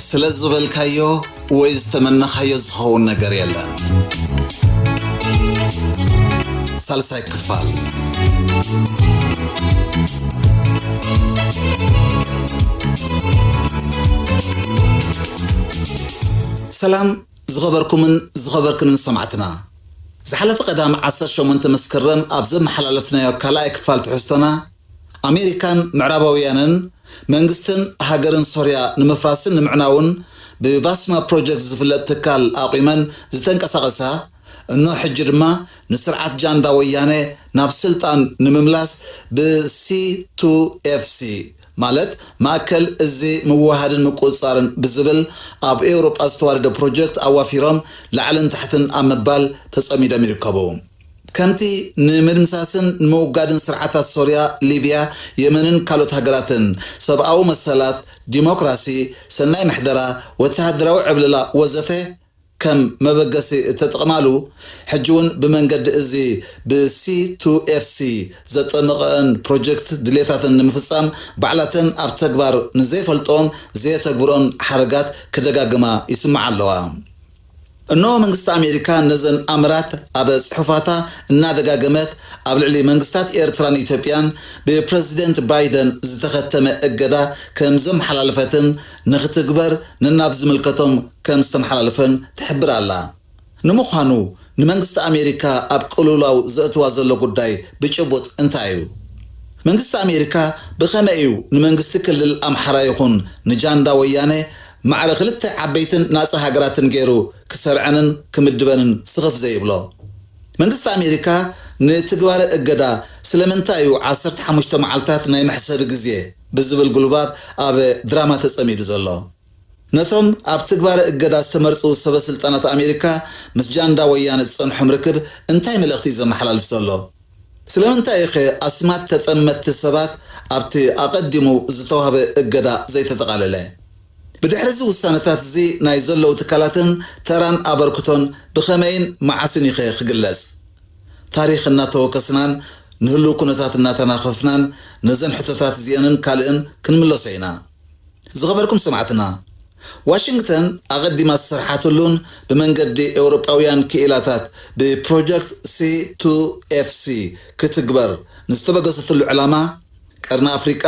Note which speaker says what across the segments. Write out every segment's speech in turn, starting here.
Speaker 1: ስለ ዝበልካዮ ወይ ዝተመነኻዮ ዝኸውን ነገር የለን። ሳልሳይ ክፋል። ሰላም ዝኸበርኩምን ዝኸበርክንን ሰማዕትና፣ ዝሓለፈ ቀዳም ዓሰርተ ሸሞንተ መስከረም ኣብ ዘመሓላለፍናዮ ካልኣይ ክፋል ትሕዝቶና ኣሜሪካን ምዕራባውያንን፣ መንግስትን ሃገርን ሶርያ ንምፍራስን ንምዕናውን ብባስማ ፕሮጀክት ዝፍለጥ ትካል ኣቝመን ዝተንቀሳቐሳ፣ እኖ ሕጂ ድማ ንስርዓት ጃንዳ ወያነ ናብ ስልጣን ንምምላስ ብሲ-ቱ-ኤፍ-ሲ፣ ማለት ማእከል እዚ ምውህሃድን ምቁጽጻርን ብዝብል ኣብ ኤውሮጳ ዝተዋደደ ፕሮጀክት ኣዋፊሮም ላዕልን ታሕትን ኣብ ምባል ተጸሚዶም ይርከቡ። ከምቲ ንምድምሳስን ንምውጋድን ስርዓታት ሶርያ፣ ሊብያ፣ የመንን ካልኦት ሃገራትን፣ ሰብኣዊ መሰላት፣ ዲሞክራሲ፣ ሰናይ ምሕደራ፣ ወተሃደራዊ ዕብለላ ወዘተ ከም መበገሲ እተጠቕማሉ፣ ሕጂ'ውን ብመንገዲ እዚ ብC2FC ዘጠምቐእን ፕሮጀክት ድልየታተን ንምፍጻም ባዕላተን ኣብ ተግባር ንዘይፈልጥኦን ዘየተግብርኦን ሓረጋት ክደጋግማ ይስምዓ ኣለዋ። እነሆ መንግስቲ ኣሜሪካ ነዘን ኣምራት ኣብ ጽሑፋታ እናደጋገመት ኣብ ልዕሊ መንግስታት ኤርትራን ኢትዮጵያን ብፕረዚደንት ባይደን ዝተኸተመ እገዳ ከም ዘምሓላለፈትን ንኽትግበር ነናብ ዝምልከቶም ከም ዝተምሓላልፈን ትሕብር ኣላ። ንምዃኑ ንመንግስቲ ኣሜሪካ ኣብ ቅልውላው ዘእትዋ ዘሎ ጉዳይ ብጭቡጥ እንታይ እዩ? መንግስቲ ኣሜሪካ ብኸመይ እዩ ንመንግስቲ ክልል ኣምሓራ ይኹን ንጃንዳ ወያነ ማዕረ ክልተ ዓበይትን ናጻ ሃገራትን ገይሩ ክሰርዐንን ክምድበንን ስኽፍ ዘይብሎ? መንግስቲ ኣሜሪካ ንትግባረ እገዳ ስለምንታይ እዩ ዓሰርተ ሓሙሽተ መዓልታት ናይ መሕሰቢ ግዜ ብዝብል ጉልባብ ኣብ ድራማ ተጸሚዱ ዘሎ? ነቶም ኣብ ትግባረ እገዳ ዝተመርጹ ሰበ ስልጣናት ኣሜሪካ ምስ ጃንዳ ወያነ ዝጸንሖም ርክብ እንታይ መልእኽቲ እዩ ዘመሓላልፍ ዘሎ? ስለምንታይ ኢዩ'ኸ ኣስማት ተጠመትቲ ሰባት ኣብቲ ኣቐዲሙ ዝተዋህበ እገዳ ዘይተጠቓለለ? ብድሕሪ'ዚ ውሳነታት'ዚ ናይ ዘለዉ ትካላትን ተራን ኣበርክቶን ብኸመይን መዓስን ኢዩ'ኸ ክግለጽ? ታሪኽ እናተወከስናን ንህሉው ኩነታት እናተናፈፍናን ነዘን ሕቶታት'ዚኤንን ካልእን ክንምለሶ ኢና። ዝኸበርኩም ሰማዕትና! ዋሽንግተን ኣቐዲማ ዝሰርሓትሉን ብመንገዲ ኤውሮጳውያን ክኢላታት ብፕሮጀክት C2FC ክትግበር ንዝተበገሰትሉ ዕላማ፣ ቀርኒ ኣፍሪቃ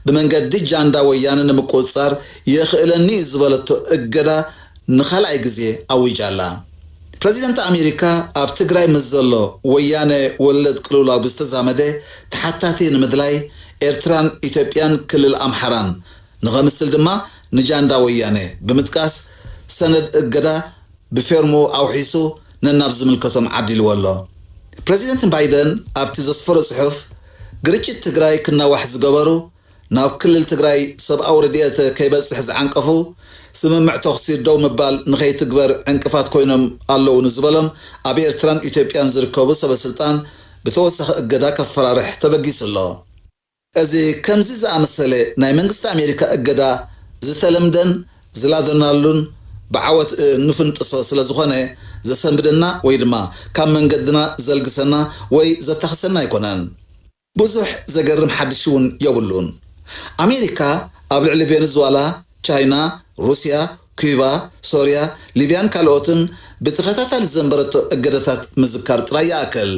Speaker 1: ብመንገዲ ጃንዳ ወያነ ንምቁጽጻር የኽእለኒ'ዩ ዝበለቶ እገዳ ንኻልኣይ ግዜ ኣዊጃ'ላ። ፕረዚደንት ኣሜሪካ ኣብ ትግራይ ምስ ዘሎ ወያነ ወለድ ቅልውላው ብዝተዛመደ ተሓታቲ ንምድላይ ኤርትራን ኢትዮጵያን ክልል ኣምሓራን ንኸምስል ድማ ንጃንዳ ወያነ ብምጥቃስ ሰነድ እገዳ ብፌርሙ ኣውሒሱ ነናብ ዝምልከቶም ዓዲልዎ ኣሎ። ፕረዚደንት ባይደን ኣብቲ ዘስፈሮ ጽሑፍ፣ ግርጭት ትግራይ ክናዋሕ ዝገበሩ፣ ናብ ክልል ትግራይ ሰብኣዊ ረድኤት ከይበጽሕ ዝዓንቀፉ፣ ስምምዕ ተኹሲ ደው ምባል ንኸይትግበር ዕንቅፋት ኮይኖም ኣለዉ ንዝበሎም ኣብ ኤርትራን ኢትዮጵያን ዝርከቡ ሰበስልጣን ብተወሳኺ እገዳ ከፈራርሕ ተበጊሱ ኣሎ። እዚ ከምዚ ዝኣመሰለ ናይ መንግስቲ ኣሜሪካ እገዳ ዝተለምደን ዝላዘናሉን ብዓወት እንፍንጥሶ ስለዝኾነ ዘሰንብደና ወይ ድማ ካብ መንገድና ዘልግሰና ወይ ዘታኽሰና ኣይኮነን። ብዙሕ ዘገርም ሓድሽ'ውን የብሉን። ኣሜሪካ ኣብ ልዕሊ ቬንዝዋላ፣ ቻይና፣ ሩስያ፣ ኲባ፣ ሶርያ፣ ሊብያን ካልኦትን ብተኸታታሊ ዘንበረቶ እገዳታት ምዝካር ጥራይ ይኣክል።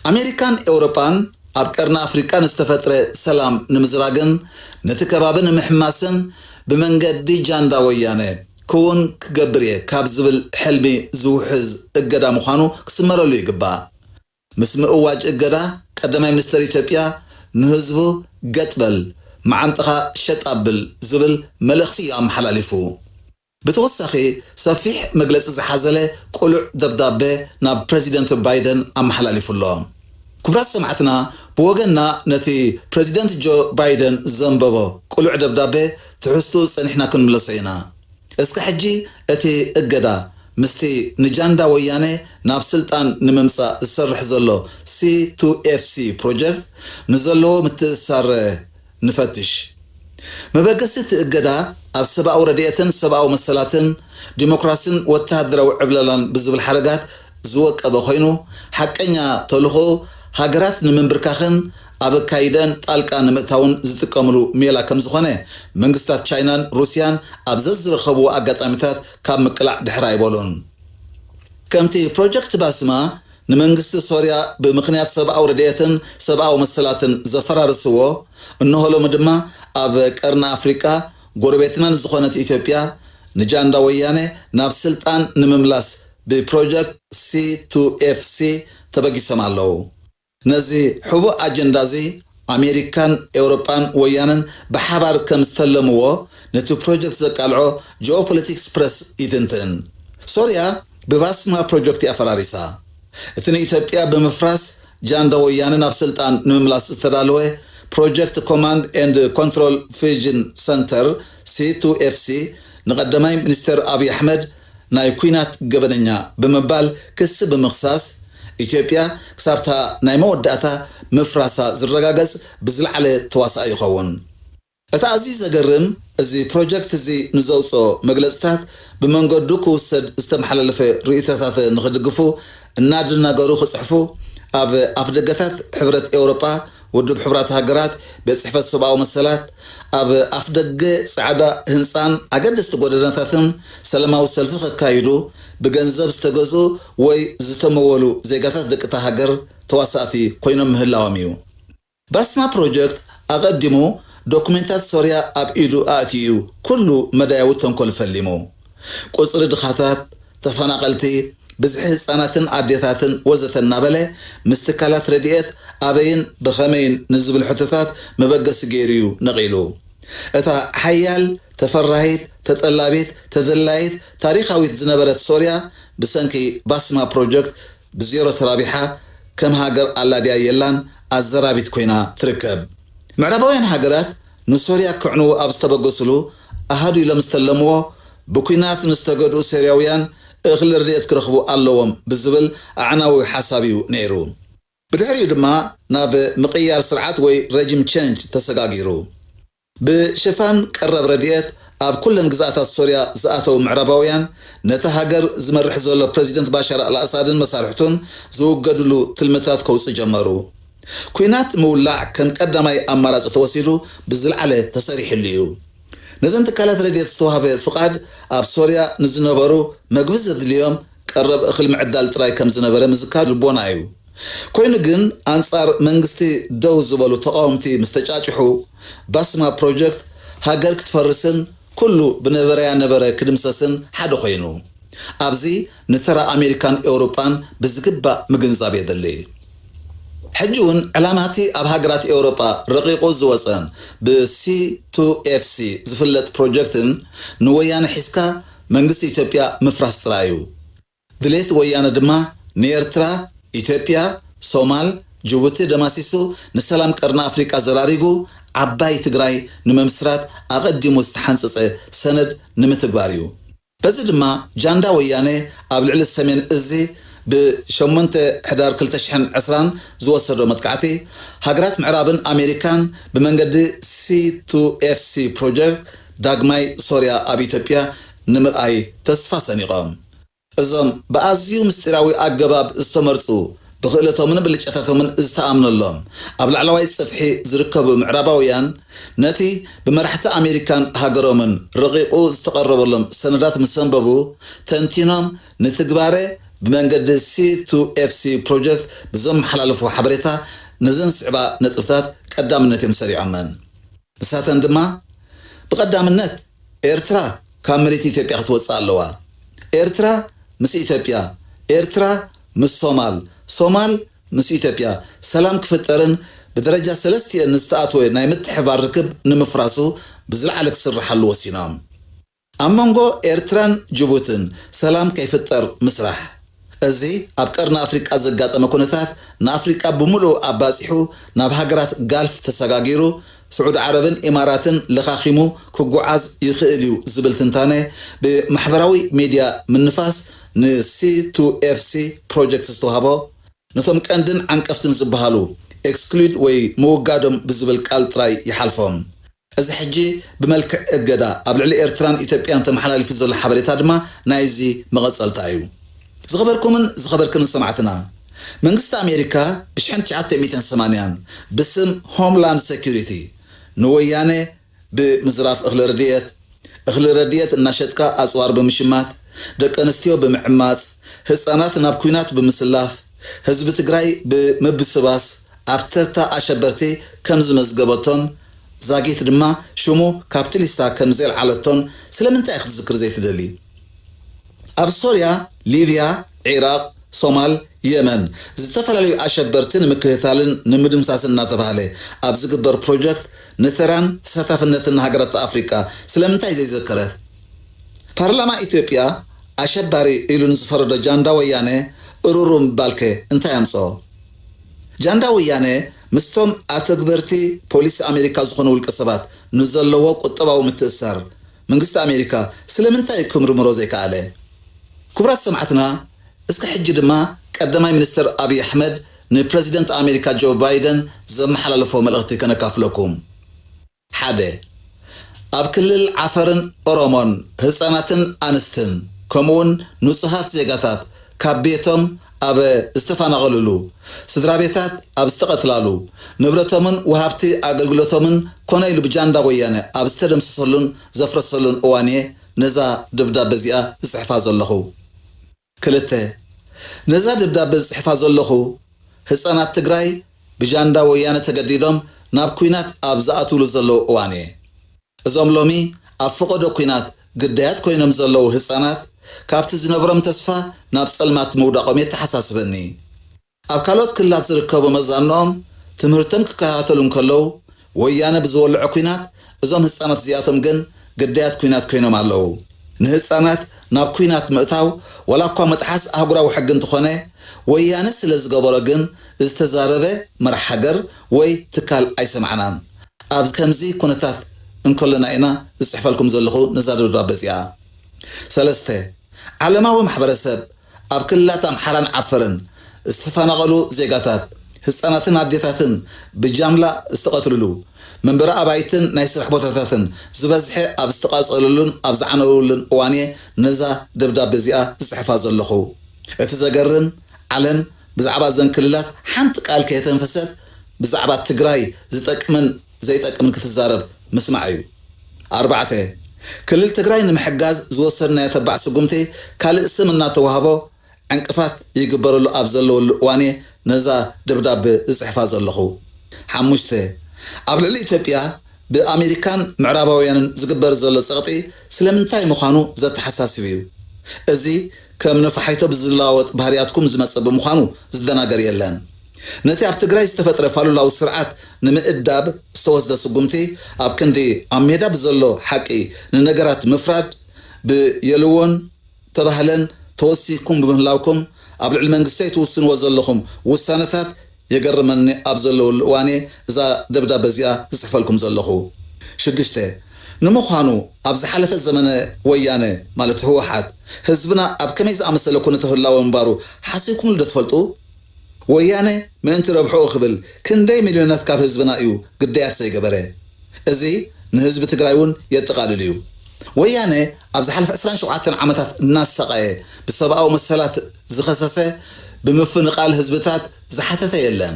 Speaker 1: ኣሜሪካን ኤውሮጳን ኣብ ቀርኒ ኣፍሪቃ ንዝተፈጥረ ሰላም ንምዝራግን ነቲ ከባቢ ንምሕማስን ብመንገዲ ጃንዳ ወያነ ክዉን ክገብር'የ ካብ ዝብል ሕልሚ ዝውሕዝ እገዳ ምዃኑ ክስመረሉ ይግባእ። ምስ ምእዋጅ እገዳ ቀዳማይ ሚኒስተር ኢትዮጵያ ንህዝቡ ገጥ በል፣ መዓንጣኻ ሸጥ ኣብል ዝብል መልእኽቲ እዩ ኣመሓላሊፉ። ብተወሳኺ ሰፊሕ መግለጺ ዝሓዘለ ቅሉዕ ደብዳበ ናብ ፕረዚደንት ባይደን ኣመሓላሊፉ ኣሎ። ክቡራት ሰማዕትና ብወገንና ነቲ ፕረዚደንት ጆ ባይደን ዘንበቦ ቅሉዕ ደብዳበ ትሕዝትኡ ጸኒሕና ክንምለሶ ኢና። እስከ ሕጂ እቲ እገዳ ምስቲ ንጃንዳ ወያነ ናብ ስልጣን ንምምጻእ ዝሰርሕ ዘሎ C2FC ፕሮጀክት ንዘለዎ ምትእስሳር ንፈትሽ። መበገሲ እቲ እገዳ ኣብ ሰብኣዊ ረድኤትን ሰብኣዊ መሰላትን፣ ዲሞክራሲን ወተሃደራዊ ዕብለላን ብዝብል ሓረጋት ዝወቀበ ኮይኑ፣ ሓቀኛ ተልኾኡ ሃገራት ንምንብርካኽን፣ ኣብ ኣካይደኣን ጣልቃ ንምእታውን ዝጥቀምሉ ሜላ ከምዝኾነ መንግስታት ቻይናን ሩስያን ኣብ ዘዝረኸብዎ ኣጋጣሚታት ካብ ምቅላዕ ድሕር ኣይበሉን። ከምቲ ፕሮጀክት ባስማ ንመንግስቲ ሶርያ ብምኽንያት ሰብኣዊ ረድኤትን ሰብኣዊ መሰላትን ዘፈራረስዎ፣ እነሆ ሎሚ ድማ ኣብ ቀርኒ ኣፍሪቃ ጎረቤትና ንዝኾነት ኢትዮጵያ ንጃንዳ ወያነ ናብ ስልጣን ንምምላስ ብፕሮጀክት ሲ-ቱ-ኤፍ-ሲ ተበጊሶም ኣለዉ። ነዚ ሕቡእ ኣጀንዳ'ዚ ኣሜሪካን ኤውሮጳን ወያነን ብሓባር ከም ዝተለምዎ ነቲ ፕሮጀክት ዘቃልዖ ጂኦፖለቲክስ ፕረስ ይትንትን። ሶርያ ብባስማ ፕሮጀክት'ያ ፈራሪሳ። እቲ ንኢትዮጵያ ብምፍራስ ጃንዳ ወያነ ናብ ስልጣን ንምምላስ ዝተዳለወ ፕሮጀክት ኮማንድ ኤንድ ኮንትሮል ፍዩጅን ሰንተር፣ ሲ-ቱ-ኤፍ-ሲ፣ ንቀዳማይ ሚኒስተር ኣብይ ኣሕመድ፣ ናይ ኲናት ገበነኛ ብምባል ክሲ ብምኽሳስ፣ ኢትዮጵያ ክሳብ'ታ ናይ መወዳእታ ምፍራሳ ዝረጋገጽ ብዝለዓለ ተዋሳኣይ ይኸውን። እቲ ኣዝዩ ዘገርም፣ እዚ ፕሮጀክት'ዚ ንዘውጽኦ መግለጽታት ብመንገዱ ክውሰድ ዝተመሓላለፈ ርእይቶታተ ንኽድግፉ እናድናገሩ ክጽሕፉ ኣብ ኣፍደገታት ሕብረት ኤውሮጳ፣ ውድብ ሕቡራት ሃገራት፣ ቤት ጽሕፈት ሰብኣዊ መሰላት፣ ኣብ ኣፍደገ ጻዕዳ ህንጻን ኣገደስቲ ጎደናታትን ሰላማዊ ሰልፊ ከካይዱ ብገንዘብ ዝተገዝኡ ወይ ዝተመወሉ ዜጋታት ደቂ'ታ ሃገር ተዋሳእቲ ኮይኖም ምህላዎም'ዩ። ባስማ ፕሮጀክት ኣቐዲሙ ዶኩሜንታት ሶርያ ኣብ ኢዱ ኣእትዩ'ዩ ኩሉ መዳያዊ ተንኮል ፈሊሙ። ቁጽሪ ድኻታት፣ ተፈናቐልቲ፣ ብዝሒ ህጻናትን ኣዴታትን ወዘተ እናበለ ምስ ትካላት ረድኤት ኣበይን ብኸመይን ንዝብሉ ሕቶታት መበገሲ ገይሩ'ዩ ነቒሉ። እታ ሓያል፣ ተፈራሂት፣ ተጠላቢት፣ ተደላዪት፣ ታሪኻዊት ዝነበረት ሶርያ ብሰንኪ ባስማ ፕሮጀክት ብዜሮ ተራቢሓ ከም ሃገር ኣላ ድያ የላን ኣዘራቢት ኮይና ትርከብ። ምዕራባውያን ሃገራት ንሶርያ ከዕንዉ ኣብ ዝተበገስሉ ኣሃዱ ኢሎም ዝተለምዎ ብኲናት ንዝተገድኡ ሶርያውያን እኽሊ ረድኤት ክረኽቡ ኣለዎም ብዝብል ኣዕናዊ ሓሳብ እዩ ነይሩ። ብድሕሪኡ ድማ ናብ ምቕያር ስርዓት ወይ ረጂም ቸንጅ ተሰጋጊሩ። ብሽፋን ቀረብ ረድኤት ኣብ ኩለን ግዝኣታት ሶርያ ዝኣተው ምዕራባውያን፣ ነታ ሃገር ዝመርሕ ዘሎ ፕረዚደንት ባሻር ኣልኣሳድን መሳርሕቱን ዝውገድሉ ትልምታት ከውጽኡ ጀመሩ። ኲናት ምውላዕ ከም ቀዳማይ ኣማራጺ ተወሲዱ ብዝልዓለ ተሰሪሕሉ እዩ። ነዘን ትካላት ረድኤት ዝተዋህበ ፍቓድ ኣብ ሶርያ ንዝነበሩ መግቢ ዘድልዮም ቀረብ እኽሊ ምዕዳል ጥራይ ከም ዝነበረ ምዝካር ልቦና እዩ። ኮይኑ ግን ኣንጻር መንግስቲ ደው ዝበሉ ተቓወምቲ ምስ ተጫጭሑ፣ ባስማ ፕሮጀክት ሃገር ክትፈርስን ኩሉ ብነበረያ ነበረ ክድምሰስን ሓደ ኮይኑ። ኣብዚ ንተራ ኣሜሪካን ኤውሮጳን ብዝግባእ ምግንዛብ የድሊ። ሕጂ እውን ዕላማቲ ኣብ ሃገራት ኤውሮጳ ረቒቑ ዝወጸን ብ C2FC ዝፍለጥ ፕሮጀክትን ንወያነ ሒዝካ መንግስቲ ኢትዮጵያ ምፍራስ ጥራይ እዩ። ድሌት ወያነ ድማ ንኤርትራ፣ ኢትዮጵያ፣ ሶማል፣ ጅቡቲ ደማሲሱ ንሰላም ቀርኒ ኣፍሪቃ ዘራሪጉ ዓባይ ትግራይ ንምምስራት ኣቐዲሙ ዝተሓንጸጸ ሰነድ ንምትግባር እዩ። በዚ ድማ ጃንዳ ወያነ ኣብ ልዕሊ ሰሜን እዚ ብ ሸሞንተ ሕዳር ክልተ ሽሕን ዕስራን ዝወሰዶ መጥቃዕቲ፣ ሃገራት ምዕራብን ኣሜሪካን ብመንገዲ ሲ-ቱ-ኤፍ-ሲ ፕሮጀክት፣ ዳግማይ ሶርያ ኣብ ኢትዮጵያ ንምርኣይ ተስፋ ሰኒቖም። እዞም ብኣዝዩ ምስጢራዊ ኣገባብ ዝተመርጹ፣ ብኽእለቶምን ብልጫታቶምን ዝተኣምነሎም፣ ኣብ ላዕለዋይ ጽፍሒ ዝርከቡ ምዕራባውያን፣ ነቲ ብመራሕቲ ኣሜሪካን ሃገሮምን ረቒቑ ዝተቐረበሎም ሰነዳት ምስ ኣንበቡ፣ ተንቲኖም ንትግባረ ብመንገዲ C2FC ፕሮጀክት ብዘመሓላለፍዎ ሓበሬታ፣ ነዘን ዝስዕባ ነጥብታት ቀዳምነት እዮም ሰሪዖመን። ንሳተን ድማ ብቐዳምነት ኤርትራ ካብ መሬት ኢትዮጵያ ክትወጽእ ኣለዋ፣ ኤርትራ ምስ ኢትዮጵያ፣ ኤርትራ ምስ ሶማል፣ ሶማል ምስ ኢትዮጵያ ሰላም ክፍጠርን ብደረጃ ሰለስቲኤን ንዝተኣትወ ናይ ምትሕብባር ርክብ ንምፍራሱ ብዝለዓለ ክስርሓሉ ወሲኖም። ኣብ መንጎ ኤርትራን ጅቡትን ሰላም ከይፍጠር ምስራሕ። እዚ ኣብ ቀርኒ ኣፍሪቃ ዘጋጠመ ኩነታት ንኣፍሪቃ ብምሉኡ ኣባጺሑ ናብ ሃገራት ጋልፍ ተሰጋጊሩ ስዑዲ ዓረብን ኢማራትን ለኻኺሙ ክጉዓዝ ይኽእል'ዩ ዝብል ትንታነ ብማሕበራዊ ሚድያ ምንፋስ ን C2FC Project ዝተዋህቦ ነቶም ቀንድን ዓንቀፍትን ዝበሃሉ Exclude ወይ ምውጋዶም ብዝብል ቃል ጥራይ ይሓልፎም። እዚ ሕጂ ብመልክዕ እገዳ ኣብ ልዕሊ ኤርትራን ኢትዮጵያን ተመሓላሊፉ ዘሎ ሓበሬታ ድማ ናይዚ መቐጸልታ እዩ። ዝኸበርኩምን ዝኸበርክንን ሰማዕትና፣ መንግስቲ ኣሜሪካ ብሽሕን ትሽዓተ ሚእትን ሰማንያን ብስም ሆምላንድ ሰኩሪቲ ንወያነ ብ ምዝራፍ እኽሊ ርድየት፣ እኽሊ ረድኤት እናሸጥካ ኣጽዋር ብምሽማት፣ ደቂ ኣንስትዮ ብምዕማጽ፣ ህጻናት ናብ ኩናት ብምስላፍ፣ ህዝቢ ትግራይ ብ ምብስባስ፣ ኣብ ተርታ ኣሸበርቲ ከም ዝመዝገበቶን ዛጊት ድማ ሽሙ ካብቲ ሊስታ ከም ዜልዓለቶን ስለምንታይ ክትዝክር ዘይትደሊ? ኣብ ሶርያ፣ ሊብያ፣ ዒራቕ፣ ሶማል፣ የመን ዝተፈላለዩ ኣሸበርቲ ንምክትታልን ንምድምሳስን እናተባህለ ኣብ ዝግበር ፕሮጀክት ንተራን ተሳታፍነትን ሃገራት ኣፍሪቃ ስለምንታይ ዘይዘከረት? ፓርላማ ኢትዮጵያ ኣሸባሪ ኢሉ ንዝፈረዶ ጃንዳ ወያነ እሩሩ ምባልከ እንታይ ኣምጽኦ? ጃንዳ ወያነ ምስቶም ኣተግበርቲ ፖሊሲ ኣሜሪካ ዝኾኑ ውልቀ ሰባት ንዘለዎ ቁጠባዊ ምትእስሳር መንግስቲ ኣሜሪካ ስለምንታይ ክምርምሮ ዘይከኣለ? ክቡራት ሰማዕትና እስከ ሕጂ ድማ ቀዳማይ ሚኒስተር ኣብይ ኣሕመድ ንፕረዚደንት ኣሜሪካ ጆ ባይደን ዘመሓላለፎ መልእኽቲ ከነካፍለኩም። ሓደ። ኣብ ክልል ዓፈርን ኦሮሞን ህጻናትን ኣንስትን ከምኡውን ንጹሃት ዜጋታት ካብ ቤቶም ኣብ ዝተፋናቐሉሉ፣ ስድራቤታት ኣብ ዝተቐትላሉ፣ ንብረቶምን ወሃብቲ ኣገልግሎቶምን ኮነ ኢሉ ብጃንዳ ወያነ ኣብ ዝተደምሰሰሉን ዘፍረሰሉን እዋን እየ ነዛ ደብዳበ እዚኣ ዝጽሕፋ ዘለኹ። ክልተ፣ ነዛ ደብዳበ ዝጽሕፋ ዘለኹ፣ ህጻናት ትግራይ ብጃንዳ ወያነ ተገዲዶም ናብ ኩናት ኣብ ዝኣትውሉ ዘለዉ እዋን እየ። እዞም ሎሚ ኣብ ፈቐዶ ኩናት ግዳያት ኮይኖም ዘለዉ ህጻናት፣ ካብቲ ዝነብሮም ተስፋ ናብ ጸልማት ምውዳቖም የተሓሳስበኒ። ኣብ ካልኦት ክልላት ዝርከቡ መዛኖኦም ትምህርቶም ክከታተሉ እንከለዉ፣ ወያነ ብዝወልዖ ኲናት እዞም ህጻናት እዚኣቶም ግን ግዳያት ኲናት ኮይኖም ኣለዉ። ንህጻናት ናብ ኲናት ምእታው ዋላኳ ምጥሓስ ኣህጉራዊ ሕጊ እንተኾነ፣ ወያነ ስለዝገበሮ ግን ዝተዛረበ መራሕ ሃገር ወይ ትካል ኣይሰማዕናን። ኣብ ከምዚ ኩነታት እንከሎና ኢና ዝጽሕፈልኩም ዘለኹ ነዛ ደብዳበ እዚኣ። ሰለስተ። ዓለማዊ ማሕበረሰብ፣ ኣብ ክልላት ኣምሓራን ዓፈርን ዝተፈናቐሉ ዜጋታት፣ ህፃናትን ኣዴታትን ብጃምላ ዝተቐትልሉ፣ መንበሪ ኣባይትን ናይ ስራሕ ቦታታትን ዝበዝሐ ኣብ ዝተቓፀለሉን ኣብ ዝዓነውሉን እዋን'የ ነዛ ደብዳበ እዚኣ ዝፅሕፋ ዘለኹ። እቲ ዘገርም ዓለም ብዛዕባ እዘን ክልላት ሓንቲ ቃል ከየተንፈሰት ብዛዕባ ትግራይ ዝጠቅምን ዘይጠቅም ክትዛረብ ምስማዕ እዩ። ኣርባዕተ፣ ክልል ትግራይ ንምሕጋዝ ዝወሰድናዮ ተባዕ ስጉምቲ ካልእ ስም እናተዋህቦ ዕንቅፋት ይግበረሉ ኣብ ዘለወሉ እዋን እየ ነዛ ደብዳበ ዝፅሕፋ ዘለኹ። ሓሙሽተ፣ ኣብ ልዕሊ ኢትዮጵያ ብኣሜሪካን ምዕራባውያንን ዝግበር ዘሎ ፀቕጢ ስለምንታይ ምዃኑ ዘተሓሳስብ እዩ። እዚ ከም ነፋሒቶ ብዝለዋወጥ ባህሪያትኩም ዝመፀ ብምዃኑ ዝደናገር የለን። ነቲ ኣብ ትግራይ ዝተፈጥረ ፋሉላዊ ስርዓት ንምእዳብ ዝተወስደ ስጉምቲ ኣብ ክንዲ ኣብ ሜዳ ብዘሎ ሓቂ ንነገራት ምፍራድ ብየልዎን ተባህለን ተወሲኩም ብምህላውኩም ኣብ ልዕሊ መንግስተይ ትውስንዎ ዘለኹም ውሳነታት የገርመኒ ኣብ ዘለወሉ እዋንየ እዛ ደብዳበ እዚኣ ዝጽሕፈልኩም ዘለኹ። ሽዱሽተ፣ ንምዃኑ ኣብ ዝሓለፈ ዘመነ ወያነ ማለት ህወሓት ህዝብና ኣብ ከመይ ዝኣመሰለ ኩነተ ህላወ ምንባሩ ሓሲብኩምሉ ዶ ትፈልጡ? ወያነ ምእንቲ ረብሕኡ ክብል ክንደይ ሚልዮናት ካብ ህዝብና እዩ ግዳያት ዘይገበረ። እዚ ንህዝቢ ትግራይ እውን የጠቓልል እዩ። ወያነ ኣብ ዝሓለፈ ዕስራን ሸውዓተን ዓመታት እናሳቐየ ብሰብኣዊ መሰላት ዝኸሰሰ፣ ብምፍንቓል ህዝብታት ዝሓተተ የለን።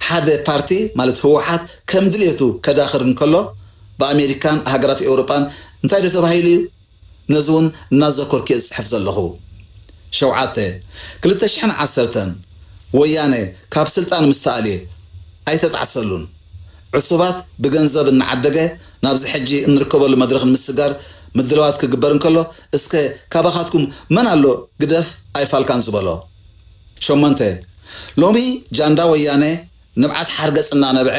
Speaker 1: ሓደ ፓርቲ ማለት ህወሓት ከም ድልየቱ ከዳኽር እንከሎ ብኣሜሪካን ሃገራት ኤውሮጳን እንታይ ዶ ተባሂሉ እዩ? ነዚ ውን እናዘከርኩ'የ ዝጽሕፍ ዘለኹ። ሸውዓተ፣ ክልተ ሽሕን ዓሰርተን፣ ወያነ ካብ ስልጣን ምስ ተኣልየ፣ ኣይተጣዕሰሉን። ዕሱባት ብገንዘብ እናዓደገ ናብዚ ሕጂ እንርከበሉ መድረኽ ንምስጋር ምድላዋት ክግበር እንከሎ፣ እስከ ካባኻትኩም መን ኣሎ ግደፍ ኣይፋልካን ዝበሎ? ሸሞንተ፣ ሎሚ ጃንዳ ወያነ ንብዓት ሓርገፅ እናነብዐ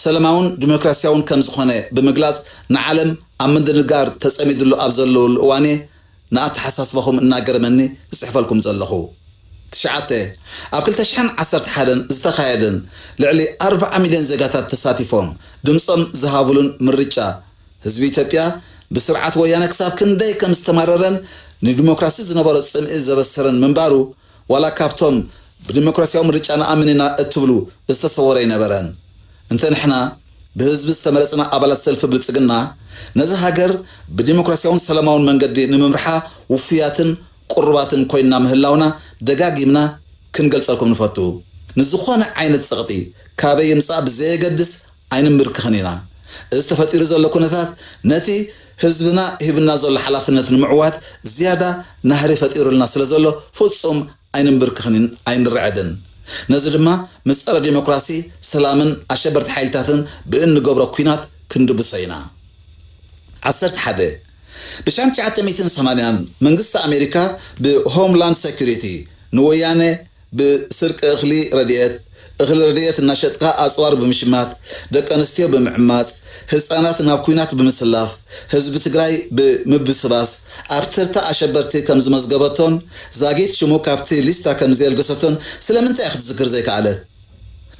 Speaker 1: ሰለማውን ዲሞክራሲያውን ከም ዝኾነ ብምግላፅ ንዓለም ኣብ ምድንጋር ተፀሚድሉ ኣብ ዘለወሉ እዋን እየ ንኣተሓሳስባኹም እናገረመኒ ዝፅሕፈልኩም ዘለኹ። ትሽዓተ፣ ኣብ ክልተ ሽሕን ዓሰርተ ሓደን ዝተኻየደን ልዕሊ ኣርብዓ ሚልዮን ዜጋታት ተሳቲፎም ድምፆም ዝሃቡሉን ምርጫ ህዝቢ ኢትዮጵያ ብስርዓት ወያነ ክሳብ ክንደይ ከም ዝተማረረን ንዲሞክራሲ ዝነበሮ ፅምኢ ዘበሰረን ምንባሩ ዋላ ካብቶም ብዲሞክራሲያዊ ምርጫ ንኣምን ኢና እትብሉ ዝተሰወረ ኣይነበረን። እንተ ንሕና ብህዝቢ ዝተመረጽና ኣባላት ሰልፊ ብልጽግና ነዛ ሃገር ብዲሞክራሲያውን ሰላማውን መንገዲ ንምምርሓ ውፉያትን ቅሩባትን ኮይንና ምህላውና ደጋጊምና ክንገልጸልኩም ንፈቱ። ንዝኾነ ዓይነት ጸቕጢ ካበይ ይምጻእ ብዘየገድስ፣ ኣይንምብርክኽን ኢና። እዚ ተፈጢሩ ዘሎ ኩነታት ነቲ ህዝብና ሂብና ዘሎ ሓላፍነት ንምዕዋት ዝያዳ ናህሪ ፈጢሩልና ስለ ዘሎ ፍጹም ኣይንምብርክኽን ኣይንርዐድን። ነዚ ድማ ምስ ጸረ ዲሞክራሲ፣ ሰላምን ኣሸበርቲ ሓይልታትን ብእንገብሮ ኩናት ክንድብሶ ኢና። ዓሰርተ ሓደ፣ ብ ሻም ትሽዓተ ሚእትን ሰማንያን መንግስቲ ኣሜሪካ ብ Homeland Security ንወያነ፣ ብስርቂ እኽሊ ረድኤት፣ እኽሊ ረድኤት እናሸጥካ ኣፅዋር ብምሽማት፣ ደቂ ኣንስትዮ ብምዕማፅ፣ ህፃናት ናብ ኲናት ብምስላፍ ህዝቢ ትግራይ ብምብስባስ ኣብ ተርታ ኣሸበርቲ ከምዝመዝገበቶን ዛጊት ሽሙ ካብቲ ሊስታ ከምዘየልገሰቶን ስለምንታይ ክትዝክር ዘይከኣለት?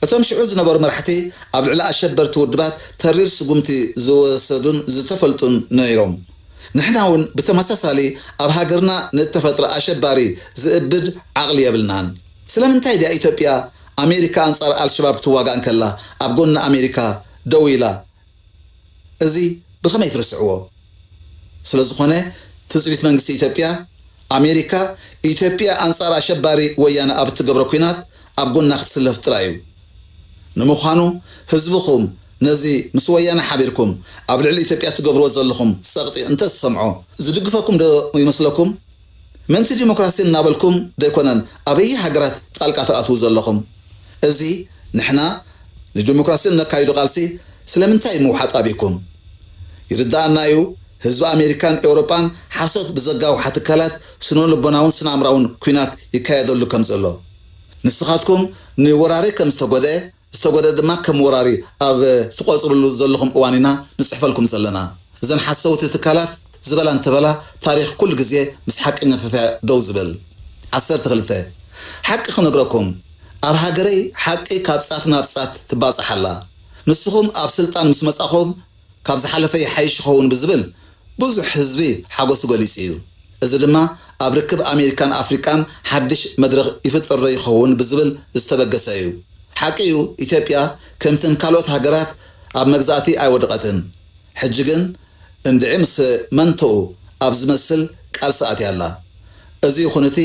Speaker 1: እቶም ሽዑ ዝነበሩ መራሕቲ ኣብ ልዕሊ ኣሸበርቲ ውድባት ተሪር ስጉምቲ ዝወሰዱን ዝተፈልጡን ነይሮም። ንሕና ውን ብተመሳሳሊ ኣብ ሃገርና ንእተፈጥረ ኣሸባሪ ዝእብድ ዓቕሊ የብልናን። ስለምንታይ ድያ ኢትዮጵያ ኣሜሪካ ኣንጻር ኣልሸባብ ክትዋጋእ እንከላ ኣብ ጎኒ ኣሜሪካ ደው ኢላ እዚ ብኸመይ ትርስዕዎ? ስለዝኾነ ትጽቢት መንግስቲ ኢትዮጵያ፣ ኣሜሪካ፣ ኢትዮጵያ ኣንጻር ኣሸባሪ ወያነ ኣብ እትገብሮ ኲናት ኣብ ጎና ክትስለፍ ጥራይ'ዩ። ንምዃኑ ህዝብኹም ነዚ ምስ ወያነ ሓቢርኩም ኣብ ልዕሊ ኢትዮጵያ እትገብርዎ ዘለኹም ጸቕጢ እንተ ዝሰምዖ ዝድግፈኩም ዶ ይመስለኩም? ምእንቲ ዲሞክራሲ እናበልኩም ደይኮነን ኣበየ ሃገራት ጣልቃ ትኣትዉ ዘለኹም? እዚ ንሕና ንደሞክራሲ እነካይዶ ቃልሲ ስለምንታይ ምውሓጥ ኣቢኩም? ይርደኣና እዩ ህዝቢ ኣሜሪካን ኤውሮጳን ሓሶት ብዘጋውሓ ትካላት ስነልቦናውን ስነኣምራውን ኩናት ይካየደሉ ከምዘሎ። ንስኻትኩም ንወራሪ ከም ዝተጎድኤ ዝተጎድኤ ድማ ከም ወራሪ ኣብ ትቆጽርሉ ዘለኹም እዋን ኢና ንጽሕፈልኩም ዘለና። እዘን ሓሰውቲ ትካላት ዝበላ እንተበላ ታሪኽ ኩሉ ግዜ ምስ ሓቀኛታት እያ ደው ዝብል። ዓሰርተ ክልተ። ሓቂ ክነግረኩም። ኣብ ሃገረይ ሓቂ ካብ ጻት ናብ ጻት ትባጻሕ ኣላ ንስኹም ኣብ ስልጣን ምስ መጻኹም ካብ ዝሓለፈ ይሓይሽ ይኸውን ብዝብል ብዙሕ ህዝቢ ሓጎሱ ገሊጹ እዩ እዚ ድማ ኣብ ርክብ ኣሜሪካን ኣፍሪቃን ሓድሽ መድረኽ ይፍጥርዶ ይኸውን ብዝብል ዝተበገሰ እዩ ሓቂ እዩ ኢትዮጵያ ከምተን ካልኦት ሃገራት ኣብ መግዛእቲ ኣይወድቐትን ሕጂ ግን እንድዒ ምስ መንቶኡ ኣብ ዝመስል ቃልሲ ኣትያ ኣላ። እዚ ይኹን እቲ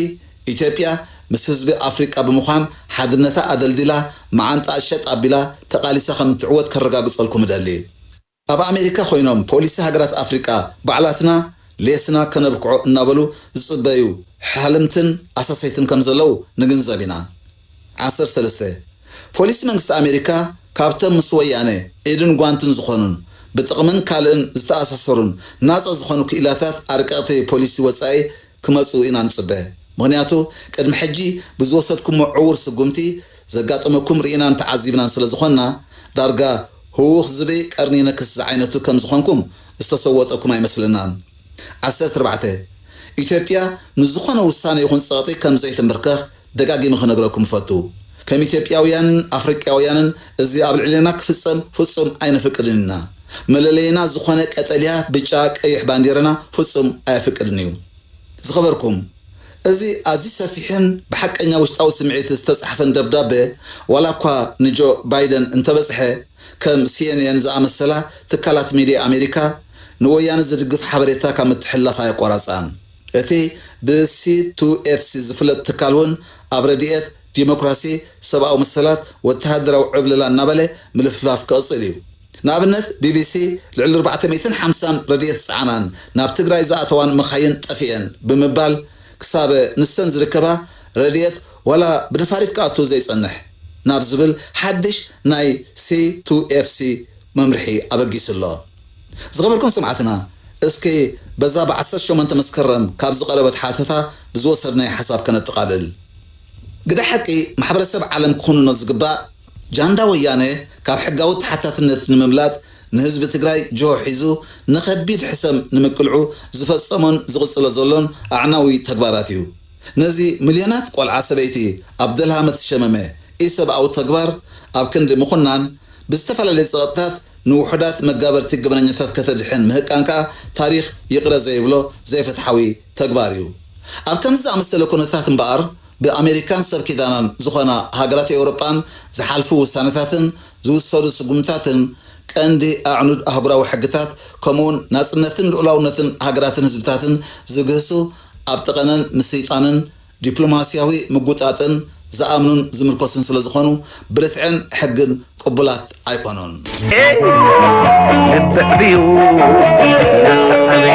Speaker 1: ኢትዮጵያ ምስ ህዝቢ ኣፍሪቃ ብምዃን ሓድነታ ኣደልዲላ መዓንጣኣ ሸጥ ኣቢላ ተቓሊሳ ከም እትዕወት ከረጋግጸልኩም እደሊ። ኣብ ኣሜሪካ ኮይኖም ፖሊሲ ሃገራት ኣፍሪቃ ባዕላትና ሌስና ከነብክዖ እናበሉ ዝጽበዩ ሓሃልምትን ኣሳሰይትን ከም ዘለዉ ንግንዘብ ኢና። ዓሰርተ ሰለስተ፣ ፖሊስ መንግስቲ ኣሜሪካ ካብቶም ምስ ወያነ ኢድን ጓንትን ዝኾኑን ብጥቕምን ካልእን ዝተኣሳሰሩን ናፃ ዝኾኑ ክኢላታት ኣርቀቕቲ ፖሊሲ ወፃኢ ክመፅኡ ኢና ንፅበ። ምኽንያቱ ቅድሚ ሕጂ ብዝወሰድኩሞ ዕዉር ስጉምቲ ዘጋጠመኩም ርኢናን ተዓዚብናን ስለዝኾንና ዳርጋ ህውኽ ዝብኢ ቀርኒ ይነክስ ዝዓይነቱ ከምዝኾንኩም ዝተሰወጠኩም ኣይመስለናን። ዓሰርተ ኣርባዕተ፣ ኢትዮጵያ ንዝኾነ ውሳነ ይኹን ፀቕጢ ከምዘይትምብርከኽ ደጋጊመ ክነግረኩም እፈቱ ከም ኢትዮጵያውያንን ኣፍሪቃውያንን እዚ ኣብ ልዕሌና ክፍጸም ፍጹም ኣይነፍቅድን ኢና። መለለይና ዝኾነ ቀጠልያ ብጫ ቀይሕ ባንዴራና ፍጹም ኣየፍቅድን እዩ። ዝኸበርኩም እዚ ኣዝዩ ሰፊሕን ብሓቀኛ ውሽጣዊ ስምዒት ዝተጻሕፈን ደብዳበ ዋላ እኳ ንጆ ባይደን እንተበጽሐ ከም ሲኤንኤን ዝኣመሰላ ትካላት ሚድያ ኣሜሪካ ንወያነ ዝድግፍ ሓበሬታ ካብ ምትሕልላፍ ኣየቋራጻን። እቲ ብሲ-ቱ-ኤፍ-ሲ ዝፍለጥ ትካል እውን ኣብ ረድኤት፣ ዲሞክራሲ፣ ሰብኣዊ መሰላት፣ ወተሃደራዊ ዕብለላ እናበለ ምልፍላፍ ክቕፅል እዩ። ንኣብነት ቢቢሲ ልዕሊ ኣርባዕተ ሚእትን ሓምሳን ረድኤት ዝፀዓናን ናብ ትግራይ ዝኣተዋን መኻይን ጠፊኤን ብምባል ክሳበ ንሰን ዝርከባ ረድኤት ዋላ ብነፋሪት ክኣቱ ዘይፀንሕ ናብ ዝብል ሓድሽ ናይ ሲ-ቱ-ኤፍ-ሲ መምርሒ ኣበጊሱ ኣሎ። ዝኸበርኩም ሰማዕትና እስኪ በዛ ብ ዓሰርተ ሸሞንተ መስከረም ካብ ዝቐረበት ሓተታ ብዝወሰድናዮ ሓሳብ ከነጠቓልል። ግደ ሓቂ ማሕበረሰብ ዓለም ክኹንኖ ዝግባእ ጃንዳ ወያነ ካብ ሕጋዊ ተሓታትነት ንምምላጥ ንህዝቢ ትግራይ ጅሆ ሒዙ ንከቢድ ሕሰም ንምቅልዑ ዝፈፀሞን ዝቕፅሎ ዘሎን ኣዕናዊ ተግባራት እዩ። ነዚ ምልዮናት ቆልዓ ሰበይቲ ኣብ ደልሃመት ዝሸመመ ኢሰብኣዊ ተግባር ኣብ ክንዲ ምኹናን ብዝተፈላለየ ጸቕጥታት ንውሑዳት መጋበርቲ ገበነኛታት ከተድሕን ምህቃን ከኣ ታሪኽ ይቕረ ዘይብሎ ዘይፍትሓዊ ተግባር እዩ። ኣብ ከምዚ ዝኣመሰለ ኩነታት እምበኣር ብኣሜሪካን ሰብ ኪዳናን ዝኾና ሃገራት ኤውሮጳን ዝሓልፉ ውሳነታትን ዝውሰዱ ስጉምትታትን ቀንዲ ኣዕኑድ ኣህጉራዊ ሕግታት ከምኡውን ናጽነትን ልኡላውነትን ሃገራትን ህዝብታትን ዝግህሱ ኣብ ጠቐነን ምስይጣንን ዲፕሎማሲያዊ ምጉጣጥን ዝኣምኑን ዝምርኮስን ስለ ዝኾኑ ብርትዕን ሕግን ቅቡላት ኣይኮኑን። ኤእ ልቢ ዕብዩ ንስሓበይ።